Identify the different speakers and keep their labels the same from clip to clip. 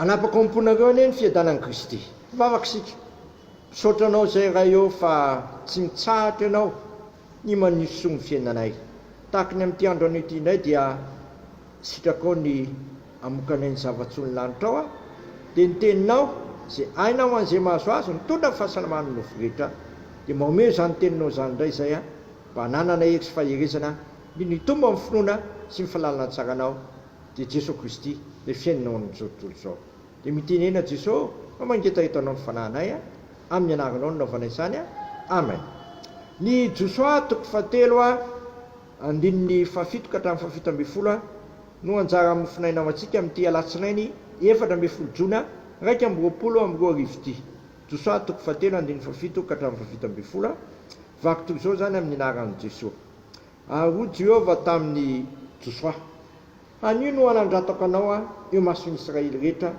Speaker 1: Hanapaka ao am-ponareo anie ny fiadanan'i Kristy. Hivavaka isika. Misaotra Anao izay Ray ô fa tsy mitsahatra Ianao ny manisy soa ny fiainanay. Tahaka ny amin'ity andro anio ity indray dia sitrakao ny hamokanay ny zava-tsoa ny lanitrao a. Dia ny Teninao izay aina ho an'izay mahazo azy mitondra ny fahasalaman'ny nofo rehetra. Dia mba omeo izany Teninao izany indray izay a. Mba hananana hery sy faherezana indrindra hitombo amin'ny finoana sy ny falalana tsaranao. dia Jesoa Kristy, ilay fiainana ao amin'izao tontolo izao. Dia mitenena Jesoa fa mangetaheta anao ny fanahinay a! Amin'ny anaranao no nanaovana izany a! Amen. Ny Josoa toko fahatelo a, andininy fahafito ka hatramin'ny fahafito ambin'ny folo a, no anjara mofonaina ho antsika amin'ity alatsinainy efatra ambin'ny folo jona iraika amby roapolo amby roa arivo ity. Josoa toko fahatelo andininy fahafito ka hatramin'ny fahafito ambin'ny folo a, vaky toy izao izany amin'ny anaran'i Jesoa. Ary hoy Jehovah tamin'i Josoa, Anio no hanandratako anao aho eo mason'ny Israely rehetra,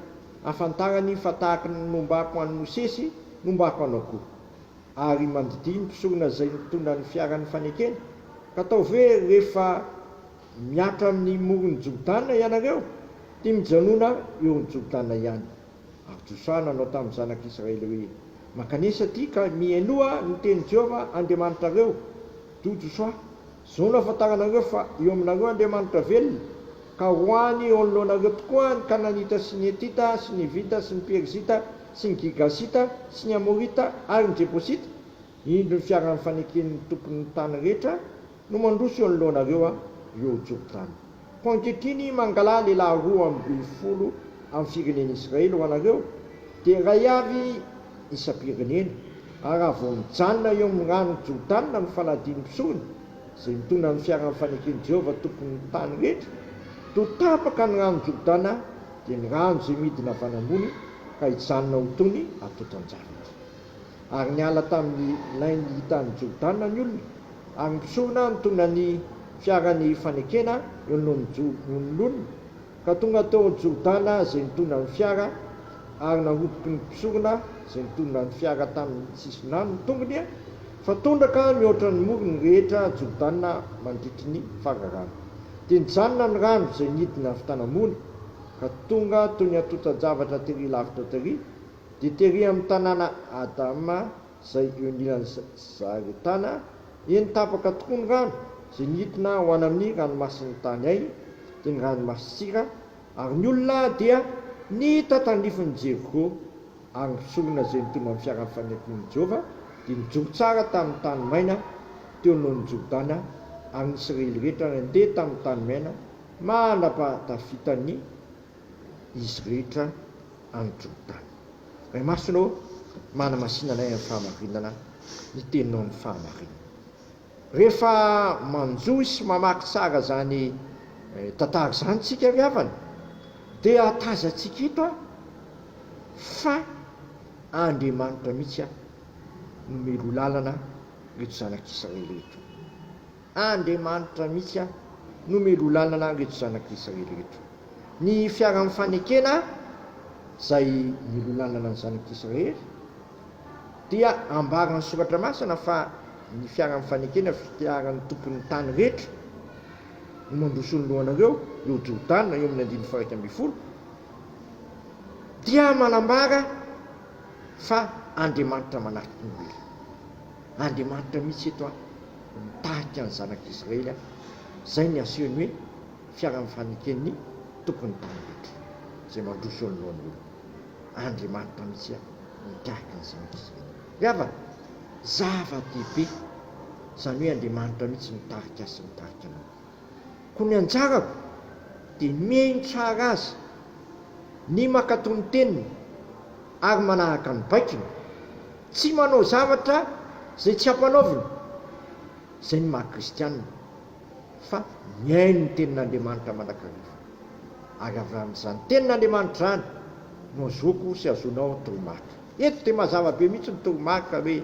Speaker 1: hahafantarany fa tahaka ny nombako an'i Mosesy, nombako anao koa. Ary mandidihy ny mpisorona izay nitondra ny fiaran'ny fanekena, ka ataovy hoe rehefa mihatra amin'ny moron'i Jordana ianareo, dia mijanona eo amin'ny Jordana ihany. Ary Josoa nanao tamin'ny zanak'i Israely hoe, Mankanesa aty ka mihenoa ny tenin'i Jehovah Andriamanitrareo. Do Josoa, izao no ahafantaranareo fa eo aminareo Andriamanitra velona, ka ho any eo anoloanareo tokoa ny Kananita sy ny Hetita sy ny Hivita sy ny Perizita sy ny Girgasita sy ny Amorita ary ny Jebosita, indro ny fiaraha-mifaneken'ny tompon'ny tany rehetra, No mandroso eo anoloanareo aho, eo Jordana. Fa ankehitriny mangalaha lehilahy roa ambin'ny folo amin'ny firenen'i Israely ho anareo, dia iray avy isam-pirenena, ary raha vao mijanona eo amin'ny rano Jordana ny fanadin'ny mpisoroka, izay mitondra ny fiaran'ny faneken'i Jehovah Tompon'ny tany rehetra, toa tapaka ny rano Jordana, dia ny rano izay midina avy any ambony, ka hijanona ho toy ny atotan-javatra. ary niala tamin'ny lain'ny hitan'i Jordana ny olona, ary ny mpisorona nitondra ny fiaran'ny fanekena eo anoloan'ny olona, ka tonga teo Jordana izay nitondra ny fiara, ary naroboky ny mpisorona izay nitondra ny fiara tamin'ny sisin-drano ny tongony, fa tondraka nihoatra ny morony rehetra Jordana mandritry ny fararano. Dia nijanona ny rano izay nidina avy tanambony, ka tonga toy ny antontan-javatra tery lavitra tery, Dia tery amin'ny tanàna Adam izay eo anilan'i Zaretana, eny tapaka tokoa ny rano izay nidina ho any amin'ny ranomasin'ny tany hay, dia ny ranomasin-tsira, ary ny olona dia nihita tandrifin'i Jeriko, ary ny mpisorona izay nitondra ny fiaran'ny fanekemben'i Jehovah dia nijoro tsara tamin'ny tany maina teo anoloan'i Jordana, ary ny Isiraely rehetra nandeha tamin'ny tany maina mandra-pahatafitany izy rehetra. any Jordana. Ray Masina ô, manamasina anay amin'ny fahamarinana ny Teninao amin'ny fahamarinana. Rehefa manjohy sy mamaky tsara izany tantara izany isika ry havana dia ahatazantsika eto fa Andriamanitra mihitsy no miloa lalana ireto zanak'Israely ireto. Andriamanitra mihitsy an no melolanana anreto zanak Israely reto. Ny fiaran fanekena zay melolanana ny zanak Israely dia ambaran ny soratra masina fa ny fiaran fanekena fiaran ny tompon ny tany rehetra no mandroso ny lohanareo eo Jordana eo amin ny andininy faha iraika ambin'ny folo dia manambara fa Andriamanitra manarky ny olona. Andriamanitra mihitsy eto aho mitarika ny zanak'i Israely aho. Izay ny asehon'ny hoe fiaran'ny faneken'ny tompon'ny tany rehetra, izay mandroso eo anoloan'ny olona. Andriamanitra mihitsy aho mitarika ny zanak'i Israely. Ry havana, zava-dehibe izany hoe Andriamanitra mihitsy mitarika ahy sy mitarika anao. Koa ny anjarako dia mihaino tsara azy, ny mankatò ny teniny ary manaraka ny baikony, tsy manao zavatra izay tsy ampanaovina, izay ny maha kristianina, fa mihaino ny tenin'Andriamanitra mandrakariva. Ary avy amin'izany tenin'Andriamanitra izany no azoako sy azonao toromarika. Eto dia mazava be mihitsy ny toromarika hoe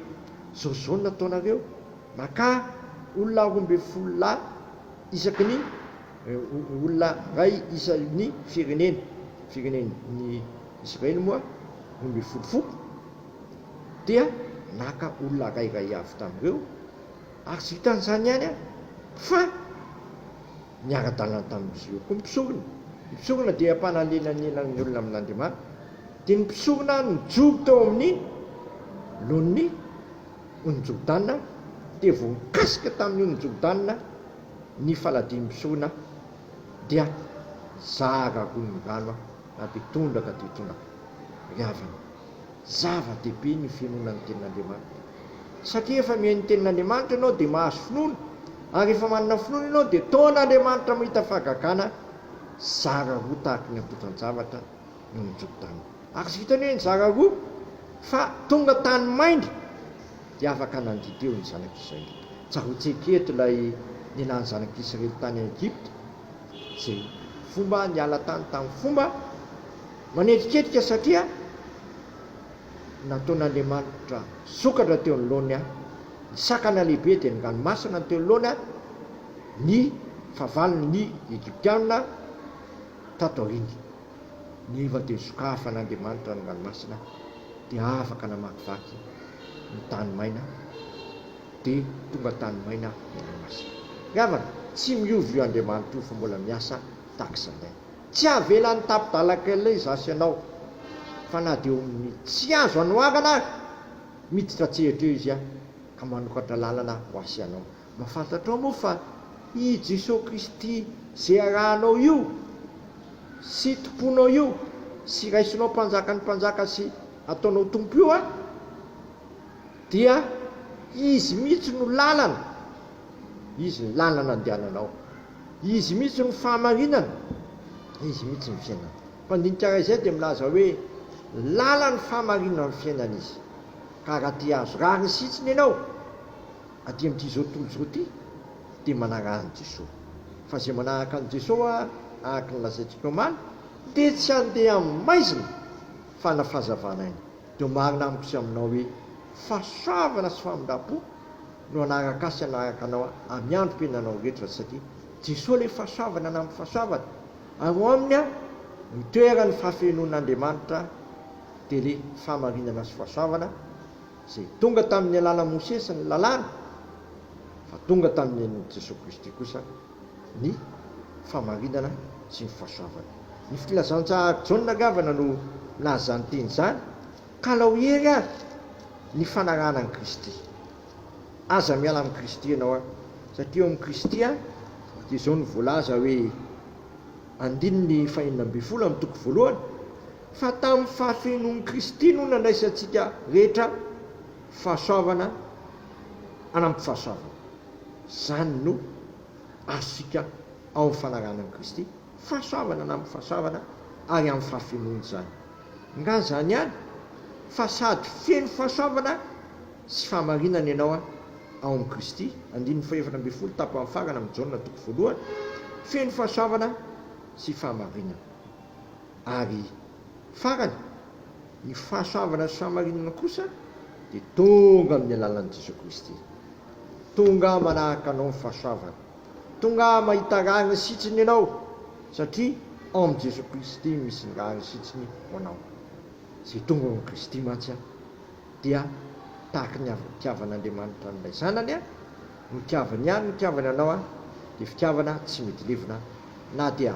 Speaker 1: izao izao no nataonareo. Makà olona roa ambin'ny folo lahy isaky ny olona iray isa ny firenena, firenena ny Israely moa roa ambin'ny folo foko, dia naka olona iray iray avy tamin'ireo, ary tsy vitan'izany ihany an, fa niara-dalana tamin'izy ireo koa ny mpisorona, ny mpisorona dia mpanalelanelana ny olona amin'Andriamanitra, dia ny mpisorona nijoro teo amin'ny laoniny. Onijobdana dia voakasika tamin'ny Onijobdana ny faladiam-pisohona dia zara roa ny rano na dia tondraka dia tondraka ry havana. Zava-dehibe ny finoana ny tenin'Andriamanitra satria efa mihaino ny tenin'Andriamanitra ianao dia mahazo finoana ary rehefa manana finoana ianao dia toa an'Andriamanitra mahita fahagagana zara roa tahaka ny antotan-javatra no nijobo tany. Ary vita ny hoe nizara roa fa tonga tany maina dia afaka nandidy eo ny zanak'i Israely. Tsaroantsika eto ilay nialan'ny zanak'i Israely tany Egypta, izay fomba niala tany tamin'ny fomba manetriketrika satria nataon'Andriamanitra sokatra teo anoloany ny sakana lehibe dia ny ranomasina teo anoloany ny fahavalon'ny Egyptiana tato aoriana. Niva dia sokafa an'Andriamanitra ny ranomasina dia afaka namakivaky ny tany maina dia tonga tany maina ny ranomasina. Ry havana, tsy miova io Andriamanitra io fa mbola miasa tahaka izany. Tsy havelany tapi-dalan-kely izaho sy ianao fa na dia eo amin'ny tsy azo anoharana ary, miditra an-tsehatra eo izy ka manokatra lalana ho ahy sy ianao. Mba fantatrao moa fa i Jesoa Kristy izay arahanao io sy Tomponao io sy raisinao Mpanjakan'ny mpanjaka sy ataonao Tompo io an, dia Izy mihitsy no lalana, Izy ny lalana andehananao, Izy mihitsy no fahamarinana, Izy mihitsy ny fiainana. Mpandinika iray izay dia milaza hoe, Lalany, fahamarinany, fiainana Izy. Ka raha te-hahazo rariny sihitsiny ianao, Aty amin'ity izao tontolo izao ity dia manaraka an'i Jesoa. Fa izay manaraka an'i Jesoa araka ny lazaintsika omaly dia tsy handeha amin'ny maizina fa hanao fahazavana aina. Dia ho marina amiko sy aminao hoe fahasoavana sy famindram-po no hanaraka ahy sy hanaraka anao amin'ny androm-piainanao rehetra satria Jesoa ilay fahasoavana namin'ny fahasoavana ary ao aminy no itoeran'ny fahafenoan'Andriamanitra dia ilay fahamarinana sy fahasoavana Izay tonga tamin'ny alalan'i Mosesy ny Lalàna, fa tonga tamin'i Jesoa Kristy kosa ny fahamarinana sy ny fahasoavana. Ny Filazantsahary Jaona angambana no nilaza izany teny izany, Kalao hery ary ny fanarahana an'i Kristy. Aza miala amin'i Kristy ianao ary, satria eo amin'i Kristy ary dia izao no voalaza hoe, andininy fahenina ambin'ny folo amin'ny toko voalohany, fa tamin'ny fahafenoan'i Kristy no nandraisantsika rehetra fahasoavana anampy fahasoavana. Izany no azontsika ao amin'ny fanarahana an'i Kristy, fahasoavana anampy fahasoavana ary amin'ny fahafenoany izany. Nga izany ihany fa sady feno fahasoavana sy fahamarinana ianao ao amin'i Kristy, andininy fahaefatra ambin'ny folo tapany farany amin'ny Jaona toko voalohany, feno fahasoavana sy fahamarinana. Ary farany, ny fahasoavana sy fahamarinana kosa dia tonga amin'ny alalan'i Jesoa Kristy. Tonga aho manahaka anao ny fahasoavana. Tonga aho mahita rariny sitsiny ianao, satria ao amin'i Jesoa Kristy misy ny rariny sitsiny ho anao. Izay tonga ao amin'i Kristy mantsy dia tahaka ny avy nitiavan'Andriamanitra an'ilay Zanany notiavany ihany ny nitiavany anao, dia fitiavana tsy mety levona na dia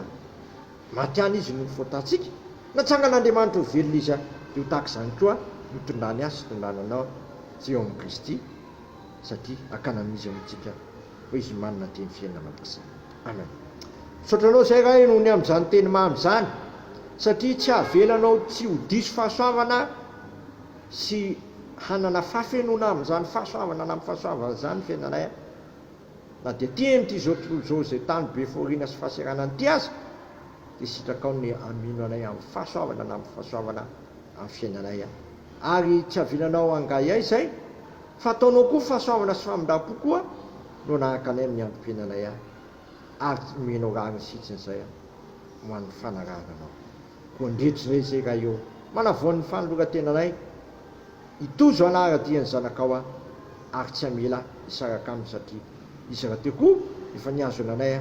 Speaker 1: Maty any izy no fôtantsika. Natsangan'Andriamanitra ho velona izy dia ho tahaka izany koa ny tondrany ahy sy tondrany anao izay eo amin'i Kristy satria hakana amin'izy eo amintsika fa izy no manana ny teny fiainana mandrakizay. Amen. Misaotra anao izay Ray noho ny amin'izany teny mamy izany satria tsy havelanao tsy ho diso fahasoavana sy hanana fahafenoana amin'izany fahasoavana na amin'ny fahasoavana izany ny fiainanay. Na dia tia an'ity izao tontolo izao izay tany be fahoriana sy fahasahiranana ity aza, dia sitrakao ny hamino anay amin'ny fahasoavana na amin'ny fahasoavana amin'ny fiainanay. Ary tsy havilanao hangahiahy izay, fa ataonao koa fahasoavana sy famindram-po koa no hanahaka anay amin'ny androm-piainanay, ary tsy nomenao rariny sy hitsin'izay ho an'ny fanarahana anao. Koa ndretsy re izay raha eo manavoan ny fanoloran-tenanay i Tojo hanara-dia ny zanakao an! ary tsy hamela hisaraka aminy satria izy rahateo koa efa nihazona anay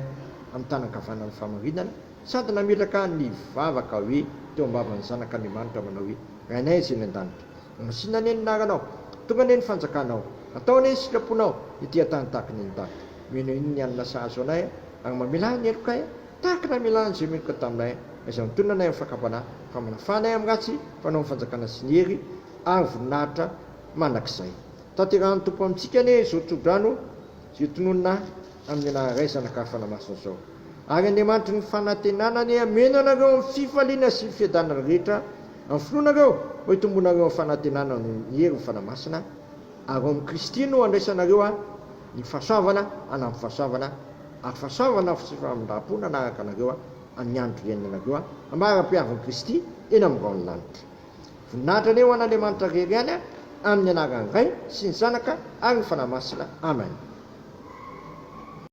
Speaker 1: amin'ny tàna ankavanana ny fahamarinana sady nametraka ny vavaka hoe teo am-bavan'ny Zanak' Andriamanitra manao hoe, Rainay izay any an-danitra, angasina anie ny anaranao, tonga anie ny fanjakanao, atao anie ny sitraponao ety an-tany tahaka ny any an-danitra, mino anie ny hanina sahazo anay ary mamela ahy ny helokay an! Tahaka ny hamelà an'i Jérémie Contambain izay mitonona anay amin'ny fakam-panahy fa manafà anay amin'ny ratsy mpanao ny Fanjakana sy ny hery ary voninahitra mandrakizay. Tanterahan'ny Tompo amintsika anie izao tsodrano izay tononina amin'ny anarany Ray, Zanaka ary Fanahy Masina izao. Ary Andriamanitry ny fanantenana anie hameno anareo amin'ny fifaliana sy ny fiadanana rehetra amin'ny finoanareo mba hitombonareo amin'ny fanantenana noho ny herin'ny Fanahy Masina ary ao amin'i Kristy no handraisanareo ny fahasoavana hanampy fahasoavana Afa saovana aho fa tsy famindram-pona anaraka anareo an, amin'ny andro hiainana anareo an, amarapiavin'i Kristy eny amin'ny rahon'ny lanitra. Voninahitra anie ho an'Andriamanitra rery ihany an, amin'ny anaran'ny Ray sy ny Zanaka ary ny Fanahy Masina. Amen.